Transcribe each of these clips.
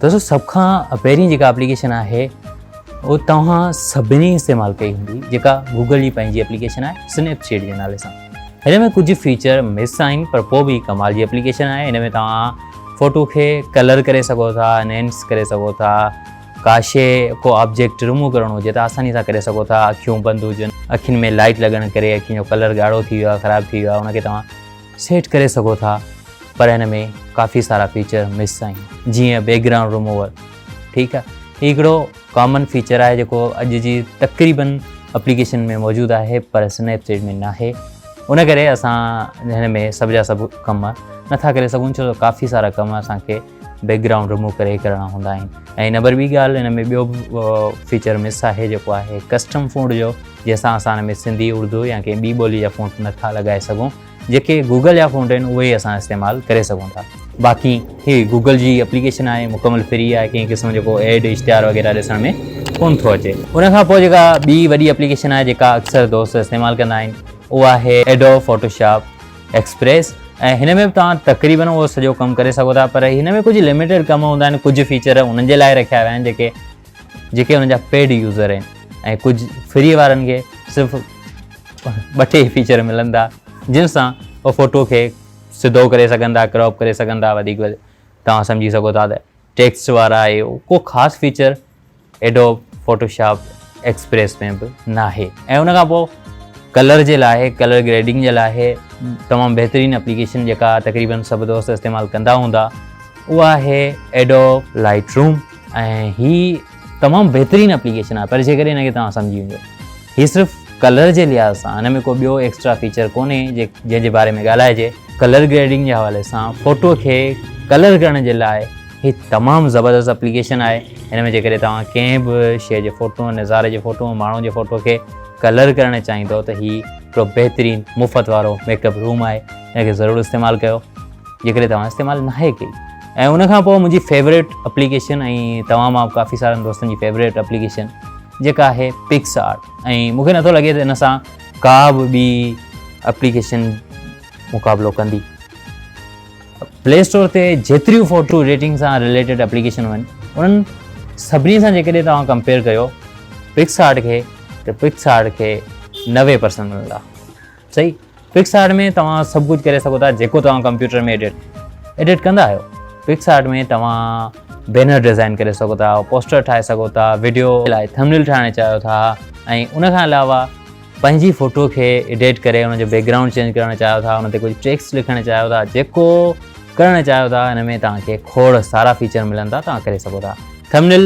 دوستو سڀ کان پهرين جيڪا اپليڪيشن آهي اهو توهان سڀني استعمال ڪئي هوندي جيڪا گوگل جي پنهنجي اپليڪيشن آهي سنيپ چيٽ جي نالي سان هن ۾ ڪجهه فيچر مس آهن پر پوء به ڪمال جي اپليڪيشن آهي هن ۾ توهان فوٽو کي ڪلر ڪري سگهو ٿا نينس ڪري سگهو ٿا ڪا شي ڪو آبجيڪٽ رموو ڪرڻو هجي ته آساني سان ڪري سگهو ٿا اکيون بند هجن اکين ۾ لائٽ لڳڻ ڪري اکين جو ڪلر ڳاڙهو ٿي ويو آهي خراب ٿي ويو آهي ان کي توهان سيٽ ڪري سگهو ٿا پر هن ۾ ڪافي سارا فيچر مس آهن جيئن بيڪ گرائونڊ رموور ٺيڪ آهي هي هڪڙو ڪامن فيچر آهي جيڪو اڄ جي تقريبن اپليڪيشن ۾ موجود آهي پر اسنيپ چيٽ ۾ ناهي ان ڪري اسان هن ۾ سڀ جا سڀ ڪم نٿا ڪري سگهون ڇو ته ڪافي سارا ڪم اسان کي بيڪ گرائونڊ رموو ڪري ڪرڻا هوندا آهن ۽ نمبر ٻي ڳالهه هن ۾ ٻيو به فيچر مس آهي جيڪو آهي ڪسٽم فونٽ جو جنهن سان اسان هن ۾ سنڌي اردو يا ڪنهن ٻي ٻولي جا فونٽ نٿا لڳائي سگهون جيڪي گوگل جا فونٽ آهن اهي اسان استعمال ڪري سگهون ٿا باقي هي گوگل جي اپليڪيشن آهي مڪمل فري آهي ڪنهن قسم جو ڪو ايڊ اشتهار وغيره ڏسڻ ۾ ڪون ٿو اچي ان کان پوء جيڪا ٻي وڏي اپليڪيشن آهي جيڪا اڪثر دوست استعمال ڪندا آهن اها آهي ايڊو فوٽو شاپ ايڪسپريس ۽ هن ۾ به توهان تقريبن اهو سڄو ڪم ڪري سگهو ٿا پر هن ۾ ڪجهه لميٽيڊ ڪم هوندا آهن ڪجهه فيچر انهن جي لاء رکيا ويا آهن جيڪي جيڪي ان جا پيڊ يوزر آهن ۽ ڪجهه فري وارن کي صرف ٻه ٽي فيچر ملن ٿا جن سان هو فوٽو کي سڌو ڪري سگهن ٿا ڪراپ ڪري سگهن ٿا وڌيڪ توهان سمجهي سگهو ٿا ته ٽيڪسٽ وارا آهي ڪو خاص feature Adobe Photoshop Express ۾ به ناهي ۽ ان کان پوء ڪلر جي لاء ڪلر گريڊنگ جي لاء تمام بهترين اپليڪيشن جيڪا تقريبن سڀ دوست استعمال ڪندا هوندا اها آهي ايڊوب لائٽ روم ۽ هي تمام بهترين اپليڪيشن آهي پر جيڪڏهن هن کي توهان سمجهي وڃو هي صرف ڪلر جي لحاظ سان هن ۾ ڪو ٻيو ايڪسٽرا فيچر ڪونهي جنهن جي باري ۾ ڳالهائجي. ڪلر گريڊنگ جي حوالي سان فوٽو کي ڪلر ڪرڻ جي لاء هي تمام زبردست اپليڪيشن آهي. هن ۾ جيڪڏهن توهان ڪنهن به شيء جي فوٽو، نظاري جي فوٽو، ماڻهو جي فوٽو کي ڪلر ڪرڻ چاهيندؤ ته هي هڪڙو بهترين مفت وارو ميڪ اپ روم آهي. هن کي ضرور استعمال ڪيو جيڪڏهن توهان استعمال ناهي ڪئي. ۽ ان کان پوء منهنجي فيوريٽ اپليڪيشن ۽ توهان مان ڪافي سارن دوستن جي فيوريٽ اپليڪيشن. جيڪا آهي پڪس آرٽ ۽ مونکي نٿو لڳي ته ان سان ڪا به ٻي اپليڪيشن مقابلو ڪندي پلي اسٽور تي جيتريون فوٽو ايڊيٽنگ سان ريليٽيڊ اپليڪيشن آهن انهن سڀني سان جيڪڏهن توهان ڪمپيئر ڪيو پڪس آرٽ کي ته پڪس آرٽ کي نوي پرسنٽ ملندا صحيح پڪس آرٽ ۾ توهان سڀ ڪجهه ڪري سگهو ٿا جيڪو توهان ڪمپيوٽر ۾ ايڊيٽ ايڊيٽ ڪندا آهيو پڪس آرٽ ۾ توهان بينر ڊيزائن ڪري سگهو ٿا پوسٽر ٺاهي سگهو ٿا ويڊيو لاء ٿمنيل ٺاهڻ چاهيو ٿا ۽ ان کان علاوه پنهنجي فوٽو کي ايڊيٽ ڪري ان جو بيڪ گرائونڊ چينج ڪرڻ چاهيو ٿا ان تي ڪجهه ٽيڪس لکڻ چاهيو ٿا جيڪو ڪرڻ چاهيو ٿا ان ۾ توهان کي کوڙ سارا فيچر ملن ٿا توهان ڪري سگهو ٿا ٿمنل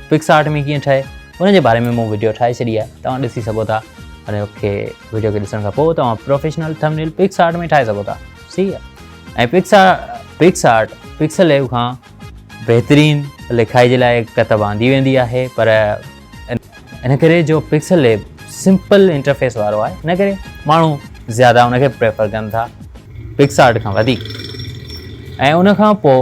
پڪس آرٽ ۾ ڪيئن ٺهي ان جي باري ۾ مون ويڊيو ٺاهي ڇڏي آهي توهان ڏسي سگهو ٿا ان کي وڊيو کي ڏسڻ کان پوء توهان پروفيشنل ٿمنيل پڪس آرٽ ۾ ٺاهي سگهو ٿا صحيح آهي ۽ پڪس پڪس آرٽ پڪسل ليو کان بهترين لکائي جي لاء ڪتب آندي ويندي آهي پر ان ڪري جو پڪسل ليب سمپل انٽرفيس وارو آهي ان ڪري ماڻهو زياده ان کي پريفر ڪن ٿا پڪس آرٽ کان وڌيڪ ۽ ان کان پوء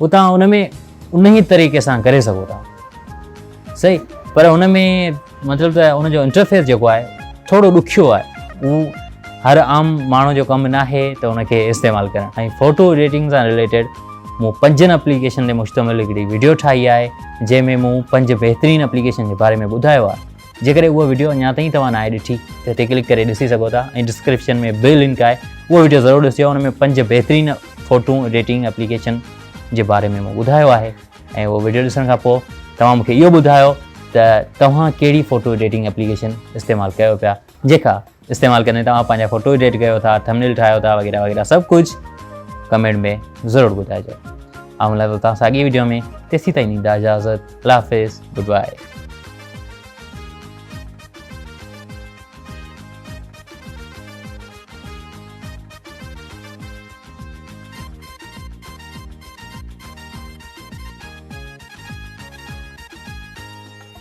هو توهان ان ۾ انهي طريقي سان ڪري سگهو ٿا صحيح پر ان ۾ مطلب ته ان جو انٽرفيس جيڪو آهي ٿورو ڏکيو آهي هو هر عام ماڻهو جو ڪم نه آهي ته ان کي استعمال ڪرڻ ۽ فوٽو ايڊيٽنگ سان رليٽيڊ مون پنجن اپليڪيشن تي مشتمل هڪڙي ويڊيو ٺاهي آهي جنهن ۾ مون پنج بهترين اپليڪيشن جي باري ۾ ٻڌايو آهي جيڪڏهن اها وڊيو اڃا تائين توهان ناهي ڏٺي ته هتي ڪلڪ ڪري ڏسي سگهو ٿا ۽ ڊسڪرپشن ۾ به لنڪ آهي اها وڊيو ضرور ڏسجو ان ۾ پنج بهترين فوٽون ايڊيٽنگ اپليڪيشن جي باري ۾ مون ٻڌايو آهي ۽ اهو وڊيو ڏسڻ کان پوء توهان مونکي اهو ٻڌايو ته توهان ڪهڙي فوٽو ايڊيٽنگ اپليڪيشن استعمال ڪيو پيا جيڪا استعمال ڪندي توهان پنهنجا فوٽو ايڊيٽ ڪيو ٿا ٿمنيل ٺاهيو ٿا وغيره وغيره سڀ ڪجهه ڪمينٽ ۾ ضرور ٻڌائجو آئون ملان ٿو توهان سان اڳي ويڊيو ۾ تيسي تائين ڏيندا اجازت الله حافظ گڊ بائي